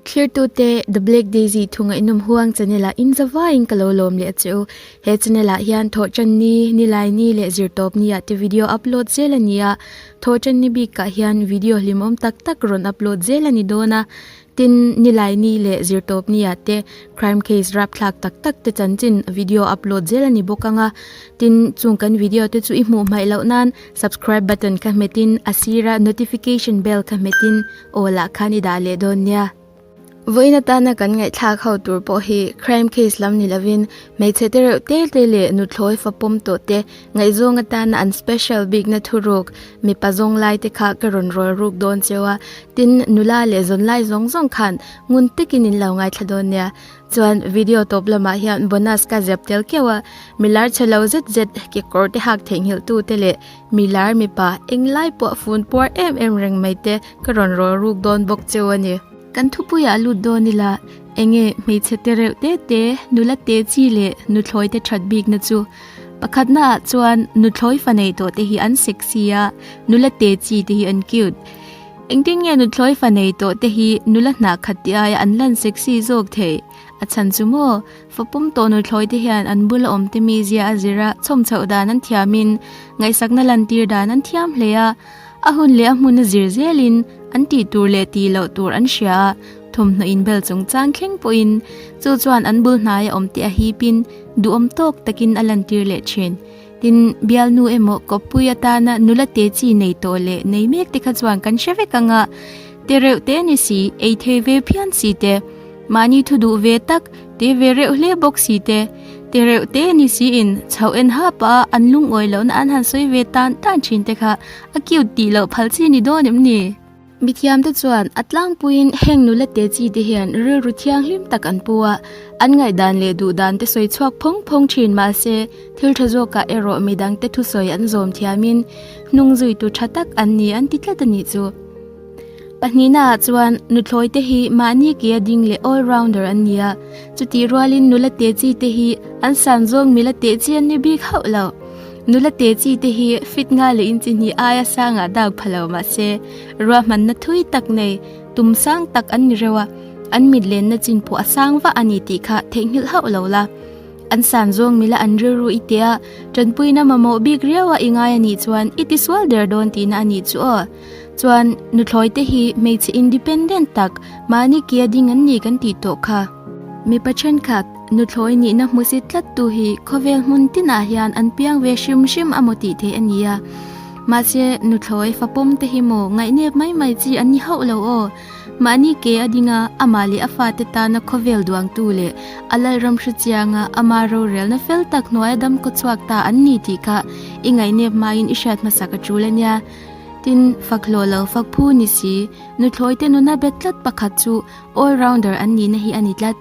Thirtute, The Black Daisy thu ngaihnawm huang chanela in zavaiin ka lo lawm leh a che u. He chanela hian thawhtan ni, nilai ni leh zirtawp ni ah te video upload zel a ni a. Thawhtan ni bik ah hian video hlimawm tak tak rawn upload zel a ni dawn a. Tin, nilai ni leh zirtawp ni ah te crime case rapthlak tak tak te chanchin video upload zel a ni bawk ang a. Tin, chung kan video te chu i hmuh hmaih loh nan. Subscribe button ka hmet in a sira notification bell ka hmet in all ah khan i dah leh dawn nia. Vawiin atana kan ngaihthlak ho tur pawh hi crime case lam ni lovin hmeichhe te reuh te te leh nuthlawi fapawm tawh te ngaihzawng atana an special bikna thu ruk mipa zawng lai te kha ka rawn rawl ruk dawn che a tin nula leh zawnlai zawng zawng khan ngun tekin in lo ngaithla dawn nia. Chuan video tawp lamah hian bonus ka zep tel kiau a, mi lar che lo zet zet, kekawr te hak theihnghilh tu te leh mi lar mipa eng lai pawh fun puar em em reng mai te ka rawn rawl ruk dawn bawk che a ni. Kan thupui ah lut dawn ila, enge hmeichhe te reuh te te nula te chi leh nu thlawi te that bik na chu? Pakhat na ah chuan nu thlawi fa nei tawh te hi an sexy a, nula te chi te hi an cute. Engtin nge nuthlawih fa nei tawh te hi nula hna khat te aia an lan sexy zawk thei a chhan chu maw? Fa pawm tawh nuthlawi te hian an bula awm te mi zia a zir a, chhawm chhoh dan an thiam in, ngaihsakna lan tir dan an thiam hle a, a hun leh a hmun a zir zel in, an tih tur leh ti loh tur an hria a, thawmhnaw inbel chung chang thleng pawh in. Chu chuan an bul hnaia awm te a hip in, duhawm tawk takin a lan tir leh thin. Tin, bialnu emaw Kawppui atana nula te chi nei tawh leh nei mek te kha chuan kan hre vek anga, te reuh te ni si, ei thei ve phian si te, mahni thu duh ve tak, te ve reuh hle bawk si te, te reuh te ni si in chho en hap a an lungawi lohna an han sawi ve tan tan thin te kha a cute tih loh phal chi ni dawn em ni? Mi thiamte chuan a tlangpuiin heng nula te chi te hian rilru thiang hlim tak an pu a, an ngaihdan leh duhdante sawi chhuak phawng phawng thin mahse thil tha zawkah erawh midangte thusawi an zawm thiamin hnung zuitu tha tak an ni an ti tlat a nih chu. Pahnihna ah chuan Nuthawite hi mahni ke a ding leh all rounder an ni a, chutih rualin nula te chi te hi an san zawng mila tehchian ni bik hauh lo. Nula te chi te hi fit nga leh in chi hnih aia sang ah dak pha lo mah se ruah hman na thui tak nei tum sang tak an ni reuh a, an mit len na chin pawh a sang vah a ni tih kha theih nghilh hauh lo la. An san zawng mila an rilru i tia tanpuina mamawh bik riau a i ngai a nih chuan i ti sual der dawn ti na a nih chu aw. Chuan nuthlawi te hi hmeichhe independent tak mahni kia ding an ni kan tih tawh kha. Mipa thenkhat nuthlawi nihna hmusit tlat tu hi khawvel hmun tinah hian an piang ve hrim hrim a maw tih theih a ni a. Mahse nuthlawi fapawm te hi maw ngaihnep mai mai chi an ni hauh lo aw. Mahni ke a dinga amah leh a fate tana khawvel duangtu leh a Lalram hre chianga ama rorelna fel tak hnuaia damkaw chhuak ta an ni tih kha i ngaihnep maiin i hriat hmasak a tul a nia. Tin, faklawh lo, fakphu ni si, nuthlawi te nuna bet tlat pakhat chu all rounder an nihna hi a ni tlat.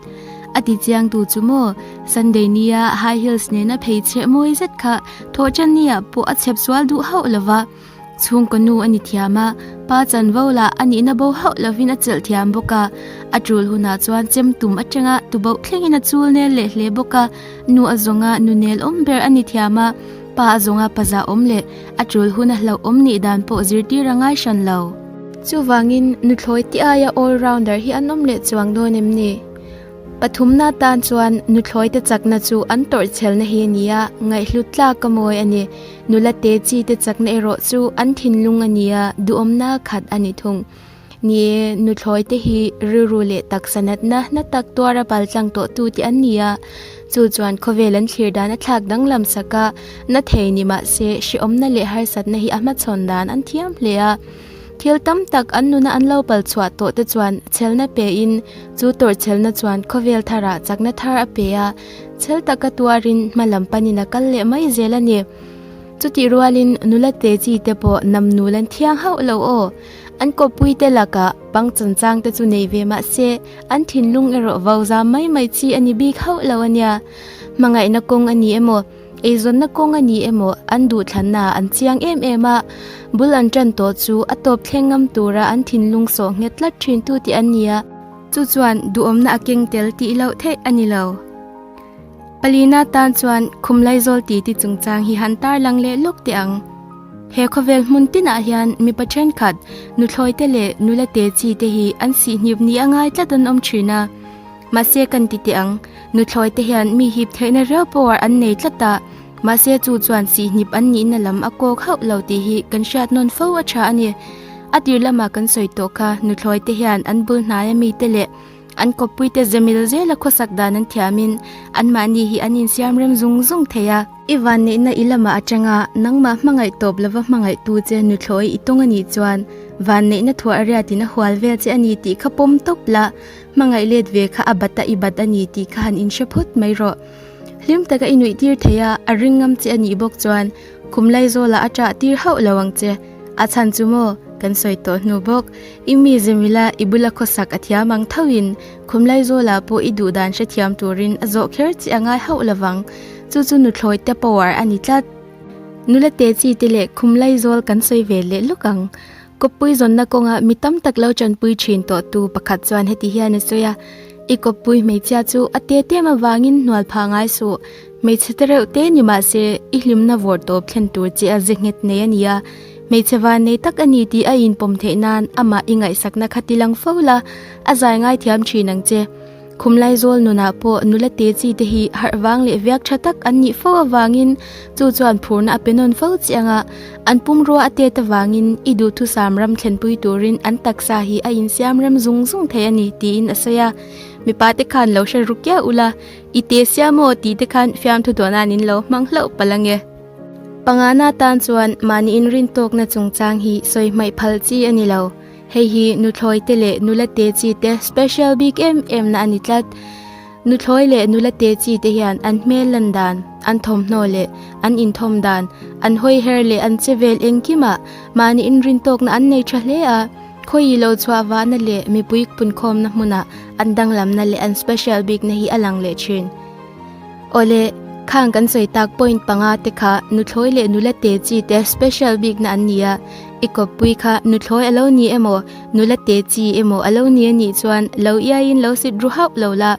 A ti chiang tu chu maw, Sunday nia high heels nena phei chhe mawi zet kha Thawhchan nia pawh a chep sual duh hauh lo va, chhungkaw nu a ni thiam a, Pa Chanvo lah a nihna bo hauh lovin a chelh thiam bawk a, a tul hunah chuan chem tum atanga tuboh thlengin a chul nel leh hle bawk a, nu a zawnga nu nelawm ber a ni thiam a, pa a zawnga paza awm leh. A tul hun a hlauh awm nih dan pawh zirtir a ngai hran lo. Chuvangin, nuthlawi ti aia all rounder hi an awm leh chuang dawn em ni? Pathumna tan chuan nuthlawite chakna chu an tawrhchelna hi a ni a, ngaihhlut tlak a mawi a ni. Nula te chite chakna erawh chu an thinlung a nia, duhawmna khat a ni thung. Ni nuthlawi te hi rilru leh taksa natna hna tak tuar a bal tlang tawh tu te an ni a. Chu chuan khawvel an thlir dan a thlak danglam saka na thei ni mah se hreawmna leh harsatna hi a hmachhawn dan an thiam hle a. Thil tam tak an nuna an lo pal chhuah tawh te chuan chhelna pe in chu tawrh chelna chuan khawvel thar ah chakna thar a pe a. Chhel taka tuar in hma lam pan in a kal leh mai zel a ni. Chutih rual in nula Teji te pawh nam nul an thiang hauh lo aw. An kawppui te lakah pang changchang te chu nei ve mah se, an thinlung erawh vau za mai mai chi a ni bik hauh lo a nia. Hmangaihna kawng a ni emaw, eizawnna kawng a ni emaw an duhthlanna an chiang em em a, bul an tan tawh chu a tawp thleng ngam tura an thinlung sawh nghet tlat thintu te an ni a. Chu chuan duhawmna a keng tel tih loh theih a ni lo. Palina tan chuan khum lai zawl ti ti chung chang hi han tar lang leh lawk teh ang. He khawvel hmun tinah hian mipa thenkhat nuthlawi te leh nula te chi te hi an sih hniup ni a ngai tlat an awm thin a. Mahse kan ti teh ang, nuthlawi te hian mi hip theihna riau pawh ah an nei tlat a, mahse chu chuan sih hnip an nihna lam a kawk hauh lo tih hi kan hriat nawn fo a tha a ni. A tirlam ah kan sawi tawh kha nuthlawi te hian an bul hnaia mi te leh An kawppui te zemil zela khawsak dan an thiam in anmahni hi an insiam rem zung zung thei a. I van neihna i lama atanga nangmah hmangaih tawp lova hmangaih tu che Nuthlawii i tawng a nih chuan van neihna thuah a riat in a hual vel che a ni tih kha pawm tawp la, hmangaih let ve kha a bat a i bat a ni tih kha han inhre phawt mai rawh. Hlim taka i nuih tir thei a, a ring ngam che a nih bawk chuan Kum lai zawla a ṭah tir hauh lo ang che, a chhan chu maw kan sawi tawh hnu bawk. I mizem ila i bula khawsak a thiam ang thauhin khum lai zawla pawh i duhdan hrethiam turin a zawh kher che a ngai hauh lo vang. Chu chu nuthluai te power a ni tlat. Nula te chi te leh khum lai zawl kan sawi ve leh luk ang. Kawppui zawnna kawngah mi tam tak lo chanpui thin tawhtu pakhat chuan heti hian a sawi a, I kawppui hmeichhia chu a te tem avangin hnual pha ngai suh. Hmeichhe te reuh te ni mah se, i hlimna vawr tawp thlen tur che a ze nghet nei a nia. Hmeichhe van nei tak a ni tih a inpawm theih nan amah i ngaihsakna kha ti lang fo la, a zai ngai thiam thin ang che. Khumlai zawl nunah pawh nula te chi te hi harh vang leh viak tha tak an nih fo avangin chu chuan phurna a pe nawn fo chiang a. An pum rua a tet avangin i duh thusam ram thlenpui turin an taksa hi a insiam rem zung zung thei a ni, tiin a sawi a. Mipa te khan lo hre ru kiau ula, i te sia maw tih te khan fiamthu duahnain in lo hmang hlauh palh ange. Pangahna tan chuan mahniin rintawkna chungchang hi sawi hmaih phal chi a ni lo. Hei hi nuthlawi te leh nula te chi te special bik em em na a ni tlat. Nuthlawi leh nula te chi te hian an hmel lan dan, an thawmhnaw leh an inthawm dan, an hawi her leh an che vel engkim ah mah niin rin tawk na an nei tha hle a. Khawi ilo chhuah vahna leh mipui pun khawm na hmun ah an danglam na leh an special bik na hi a lang leh thin. Awle, khang kan sawi tak point panga te kha nuthlawi leh nula te chi te special bik na an ni a. I kawppui kha nuthlawi a lo ni emaw, nula te chi emaw a lo ni a nih chuan lo iaiin lo sit ru hauh lo la.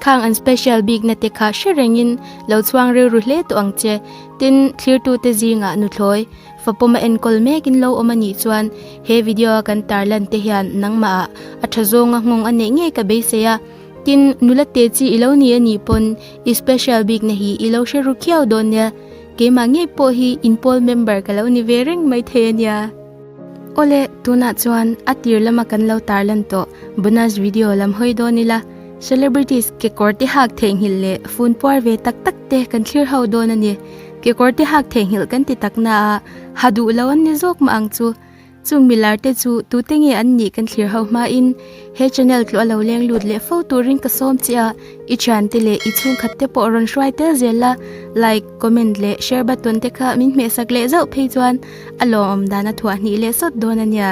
Khang an special bikna te kha hre rengin lo chhuang rilru hle tawh ang che. Tin, thlirtute zingah nuthlawi fapawma enkawl mekin lo awm a nih chuan he video a kan tar lan te hian nangmahah a tha zawnga nghawng a neih ngei ka beisei a. Tin, nula te chi i lo ni a nih pawn i special bikna hi i lo hre ru khiau dawn nia. Keimah ngei pawh hi inpawl member ka lo ni ve reng mai thei a nia. Awle, tunah chuan a tir lama kan lo tar lan tawh, bonus video lam hawi dawn ila, celebrities kekawr te hak theihnghilh leh fun puar ve tak tak te kan thlir ho dawn a ni. Kekawr te hak theihnghilh kan ti taknaah ha duh lo an ni zawk mah ang chu. Chung mi lar te chu tute nge an nih kan thlir ho hma in he channel tlua lo leng lut leh fo tur in ka sawm che a, i thian te leh i chhungkhat te pawh rawn hruai tel zel la, like, comment leh share button te kha min hmehsak leh zauh phei chuan a lawmawm dan a thuah hnih leh sawt dawn a nia.